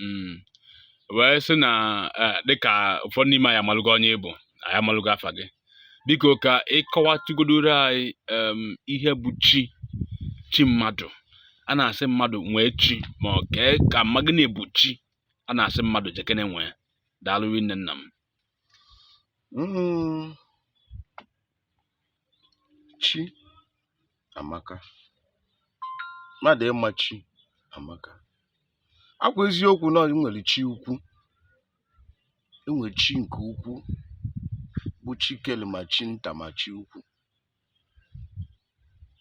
mm. wee sị na e, dịka ụfọdụ n'ime anyị amalụgo onye ị bụ anyị amalụgo afa gị biko ka ị kọwatụgodoro anyị ihe bụ chi chi mmadụ a na-asị mmadụ nwee chi ma ọ ka ka m ma gịnị bụ chi a na-asị mmadụ jekene nwee daalụ rinne nna m mm. chi amaka mmadụ ịma chi amaka ọ kwa eziokwu na enwere chi ukwu enwere chi nke ukwu bụ chi kele ma chi nta ma chi ukwu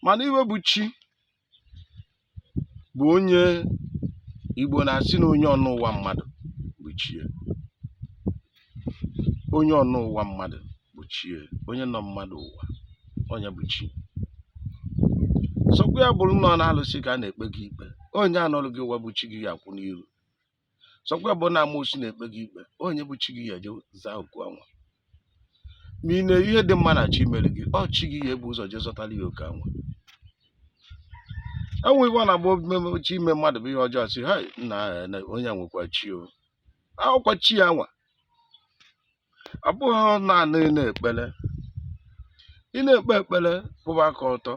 mana ihe bụ chi bụ onye Igbo na-asị na onye ọnụ ụwa mmadụ bụ chi ya. Onye ọnụ ụwa mmadụ bụ chi ya. Onye nọ mmadụ ụwa, onye bụ chi. Sọkwa ya bụrụ na ọ n'alụsị ka a na-ekpe gị ikpe. Onye a nọrọ gị ụwa bụ chi gị ga-akwụ n'iru. sọkwa bụ na amoosu na-ekpe gị ikpe onye bụ chi gị ya eje zaa oku anwa ma ị na-eri ihe dị mma na chi mere gị ọ chi gị ya ebu ụzọ jee zọtara ya oke anwa e nwee ihe ọ na-agba omume chi ime mmadụ bụ ihe ọjọọ sị ha nna onye a nwekwa chi o ọ bụkwa chi ya nwa ọ bụghị naanị n'ekpere ị na-ekpe ekpere kwụba aka ọtọ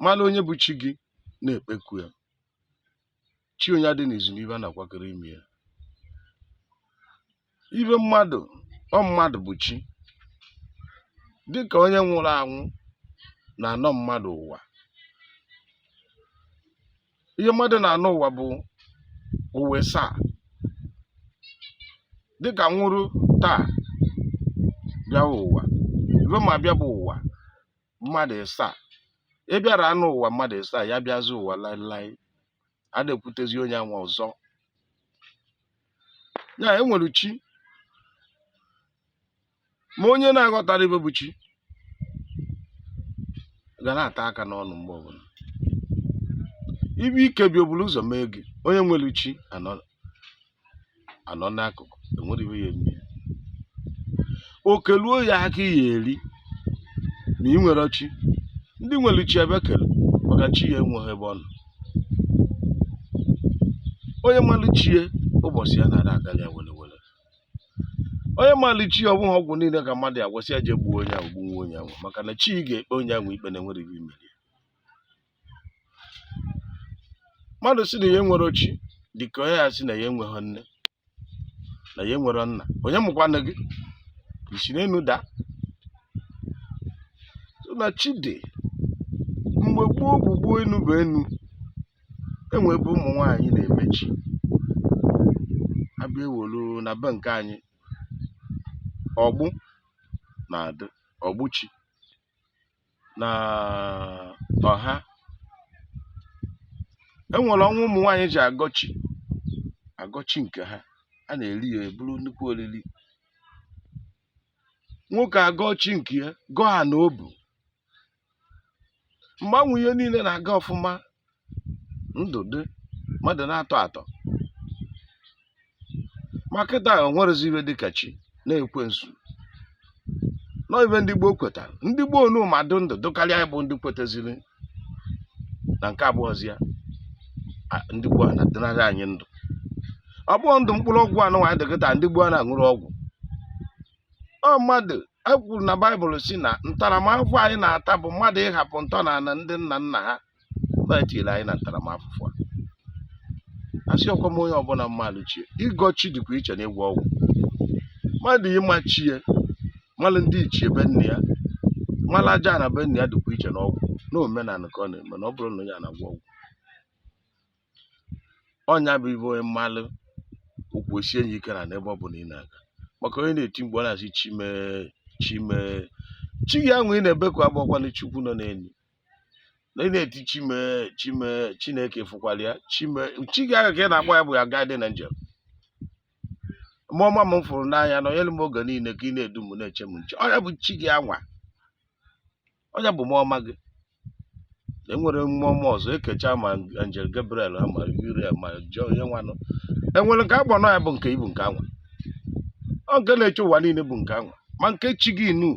mara onye bụ chi gị na-ekpeku ya chi onye adị n'izu n'ibe a na-akwakọrọ ime ya ibe mmadụ ọ mmadụ bụ chi dịka onye nwụrụ anwụ na-anọ mmadụ ụwa ihe mmadụ na-anọ ụwa bụ ụwa ịsaa dịka m nwụrụ taa bịawa ụwa ibe m ya-abịa bụ ụwa mmadụ ịsaa ị bịara anọ ụwa mmadụ ịsaa ya bịazi ụwa laịlaị ada ekwutezi onye anwa ọzọ ya enwere chi ma onye na-aghọtara ibe bụ chi ga na-ata aka n'ọnụ mgbe ọbụla ibe ike bịa o buru ụzọ mee gị onye nwere chi anọ anọ n'akụkụ enwere ibe ya eme okeluo ya aka ya eri ma ị nwere chi ndị nwere chi ebe kere maka chi ya enweghị ebe ọ nọ onye malụ chi ya ụbọchị ya na-ada aga ya were were onye malụ chi ya ọ bụghị ọgwụ niile ka mmadụ ya-agwọsị ya jee gbuo onye ahụ gbuo onye ahụ maka na chi ga-ekpe onye ahụ ikpe na enwere ibe i mere mmadụ si na ya nwerọ chi dị ka onye ya si na ya enweghị nne na ya nwerọ nna onye mụkwanụ gị i si n'enu daa na chi dị mgbe gboo gboo gboo enu bụ enu enwe ebe ụmụ nwaanyị na-eme chi a bịa ewolu na be nke anyị ọgbụ na-adị ọgbụ chi na ọha e nwere ọnwa ụmụ nwaanyị ji agọ chi agọọ chi nke ha a na-eri ya eburu nnukwu oriri nwoke agọọ chi nke ya gọọ ya na obu mgbe anwa ihe niile na-aga ọfụma ndụ dị mmadụ na-atọ atọ ma kịta onwerezi ihe dịka chi na ekwensu na ọ ihe ndị gboo kwetara ndị gboo nu ma dụ ndụ dụkarịa anyị bụ ndị kwetaziri na nke abụọzi ya a- ndị gboo a na-adịnarị anyị ndụ ọ bụghị ndụ mkpụrụ ọgwụ anụnwa anyị dị kịta ndị gboo a na-aṅụrụ ọgwụ ọ mmadụ e kwuru na baịbụl si na ntaramahụhụ anyị na-ata bụ mmadụ ịhapụ ntọala ndị nna nna ha na etiri anyị na ntaramahụhụ a asị ọkwa m onye ọbụla malụ chi ya ịgọ chi dịkwa iche na ịgwọ ọgwụ mmadụ ịma chi ya malụ ndị ichie be nna ya malụ aja ana be nna ya dịkwa iche na ọgwụ na omenala ka ọ na-eme na ọ bụrọ na onye a na-agwọ ọgwụ ọ ya bụ ihe onye malụ ụkwụ esie ya ike n'ana ebe ọ bụla ị na-aga maka onye na-eti mgbe ọ na-asị chi m e chi m e chi gị anwa ị na-ebeku abụkwana chukwu nọ n'elu na ị na-eti chi m e chi m e chineke fụkwara ya chi m e chi gị ahụ ka ị na-agwa ya bụ ya guardian angel mmụọ ọma m fụrụ n'anya na e nyere m oge niile ka ị na-edu m na-eche m nche ọ ya bụ chi gị anwa ọ ya bụ mmụọ ọma gị enwere mmụọ ọma ọzọ ekecha ma angel gabriel ha ma uriel ma jọ onye nwanụ enwere nke agbọ ya bụ nke ibu nke anwa ọ nke na-eche ụwa niile bụ nke anwa ma nke chi gị inu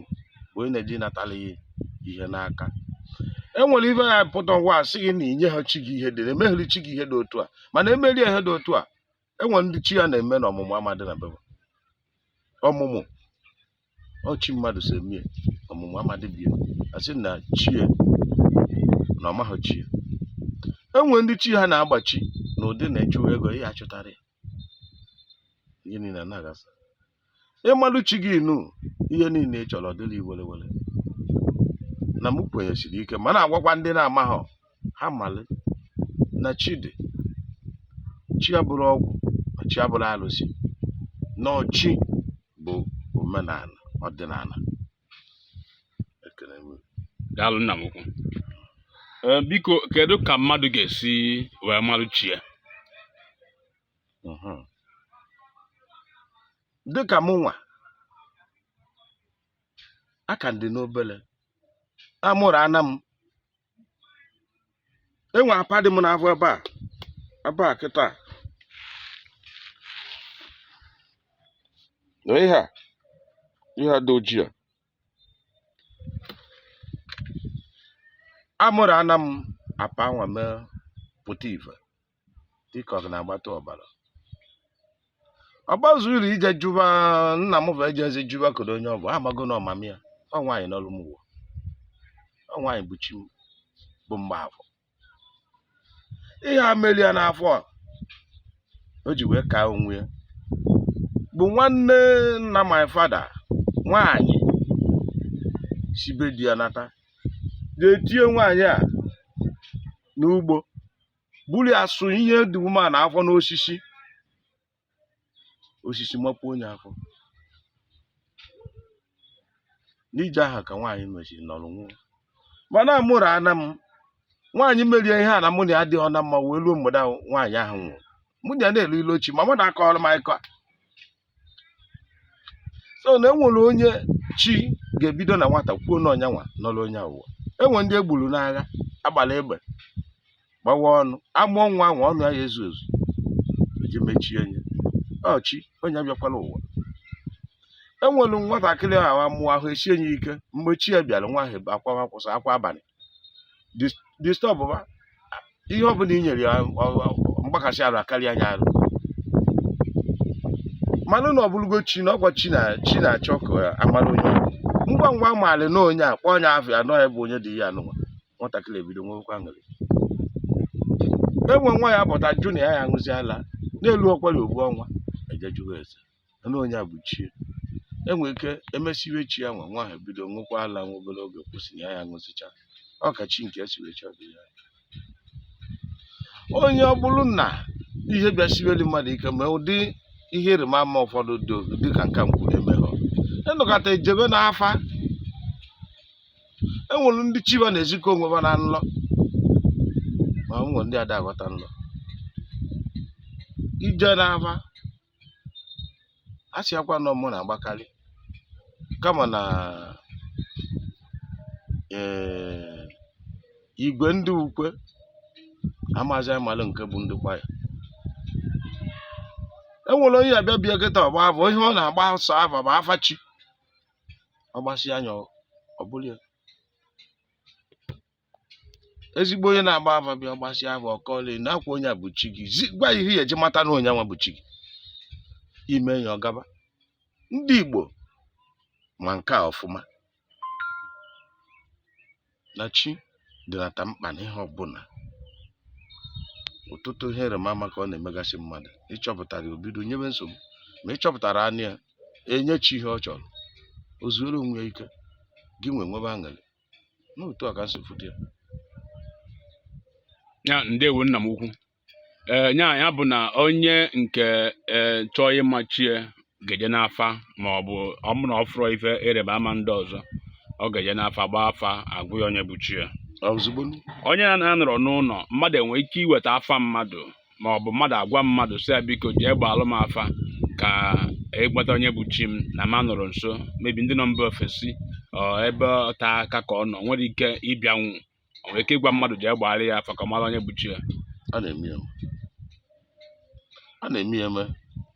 bụ onye na-eji natala ya ihe n'aka enwere ihe ya pụta ngwa a sị gị na i nyeghị chi gị ihe dị na-emegheri chi gị ihe dị otu a mana emerie ihe dị otu a enwere ndị chi ha na-eme na ọmụmụ ama adị na be ha ọmụmụ ọ chi mmadụ si emie ọmụmụ ama adị be ya a sị na chi ya na ọ maghị chi ya enwere ndị chi ha na-agbachi na ụdị na ị chụwa ego ihe achụtara ya ihe niile anaghị asa ịmalụ chi gị nu ihe niile ị chọrọ dịrị were were na m kwenyesiri ike ma na-agwakwa ndị na-amaghọ ha malị na chi dị chi abụrụ ọgwụ ma chi abụrụ arụsị na ọ chi bụ omenala ọdịnala ekele m daalụ nna m ukwu Ee, biko kedu ka mmadụ ga-esi wee marụ chi ya mhm. dịka mụ nwa ka m dị n'obere amụrụ ana m enwe apa dị m n'afọ ebe a ebe a kịta na ihe a ihe a dị ojii a amụrụ ana m apa nwa mee pụta ife dịka ọ na-agbata ọbara ọ gbazuru ije jụba nna m ba ejezi jụba kedu onye ọ bụ amago na ọmam ya ọ nwaanyị nọrọ m ụwa ọ nwaanyị bụ chi m bụ Mgbafọ ihe a meri ya n'afọ a o ji wee kaa onwe ya bụ nwanne nna my father nwaanyị si be di ya nata na-etinye nwaanyị a n'ugbo buru ya sụ ihe dị ume na afọ n'osisi osisi mapụọ nye afọ n'ije ahụ ka nwaanyị mechiri nọrọ nwụọ mana amụrụ ana m nwaanyị meri ya ihe a na mụ na ya adịghọ na mma wee ruo mgbede ahụ nwaanyị ahụ nwụrụ mụ na ya na-elo ilo ochi mama m na-akọrọ m akụkọ a so na enwere onye chi ga-ebido na nwata kwuo na ọ onye nwa nọrọ onye a ụwa enwere ndị egburu n'agha agbara egbe gbawa ọnụ amụọ nwa ahụ ọnụ ya ezu ezu eji mechie nye ọ chi onye a bịakwala ụwa enwere nwatakịrị ahụ amụọ ahụ esie nye ike mgbe chi ya bịara nwa ahụ akwa akwụsị akwa abalị disturb ihe ọ bụla i nyere ya mgbakasị arụ akarịa anya arụ manụ na ọ bụrụgo chi na ọ kwa chi na-achọ ka amara onye ngwa ngwa amara na onye a kpọọ nye afa na ọ ya bụ onye dị ya anụnwa nwatakịrị ebido nwekwa aṅụrị enwe nwa ya-apụta jụ na ya ya aṅụzi ala n'elu ọkwari ofu ọnwa ejejugo eze na onye a bụ chi ya enwere ike emesiwe chi ya nwa nwa ahụ ebido ṅụkwa ala nwa obere oge kwụsị ya ya ṅụsịcha ọ ka chi nke esiwe chi ọdị ya onye ọ bụrụ na ihe bịasiweli mmadụ ike ma ụdị ihe ịrịma ama ụfọdụ dịka nka m kwuru emeghọ a nọkata ejebe n'afa enwere ndị chi ba na-ezikọ onwe ha na nlọ ma enwere ndị ada aghọta nlọ ejee n'afa a sị akwa nọ mụ na-agbakarị kama na ee igwe ndị ukwe amazi amalụ nke bụ ndị kwaya e nwere onye abịa bịa kịta ọ gbaa afa ihe ọ na-agba sọ afa bụ afa chi ọ gbasịa anya ọ bụrụ ya ezigbo onye na-agba afa bịa ọ gbasịa afa ọ kọọlụ na akwa onye a bụ chi gị Zi- gwa ya ihe ya eji mata na onye nwa bụ chi gị i mee ya ọ gaba ndị Igbo ma nke a ọfụma na chi dịnata mkpa n'ihe ọbụla ọtụtụ ihe ịrịba ama ka ọ na-emegasị mmadụ ị chọpụtarọ ya o bido nyebe nsogbu ma ị chọpụtaranụ ya enye chi ihe ọ chọrọ o zuoro onwe ya ike gị nwa enwebe aṅụrị n'otu a ka m si fụta ya ya ndewo nna m ukwu ee ya ya bụ na onye nke ee chọọ ịma chi ya ga-eje n'afa ma ọ bụ ọ bụ na ọ fụrụ ife ịrịba ama ndị ọzọ ọ ga-eje n'afa gbaa afa a gwa ya onye bụ chi ya ozugbo onye na-anọrọ n'ụlọ mmadụ enwere ike iweta afa mmadụ ma ọ bụ mmadụ agwa mmadụ sị ya biko jee gbaalụ m afa ka ị gbata onye bụ chi m na m anọrọ nso maybe ndị nọ mba ofesi ọ ebe ote aka ka ọ nọ nwere ike ịbịanwu o nwere ike ịgwa mmadụ jee gbaara ya afa ka ọ mara onye bụ chi ya a na-eme ya eme. a na-eme ya eme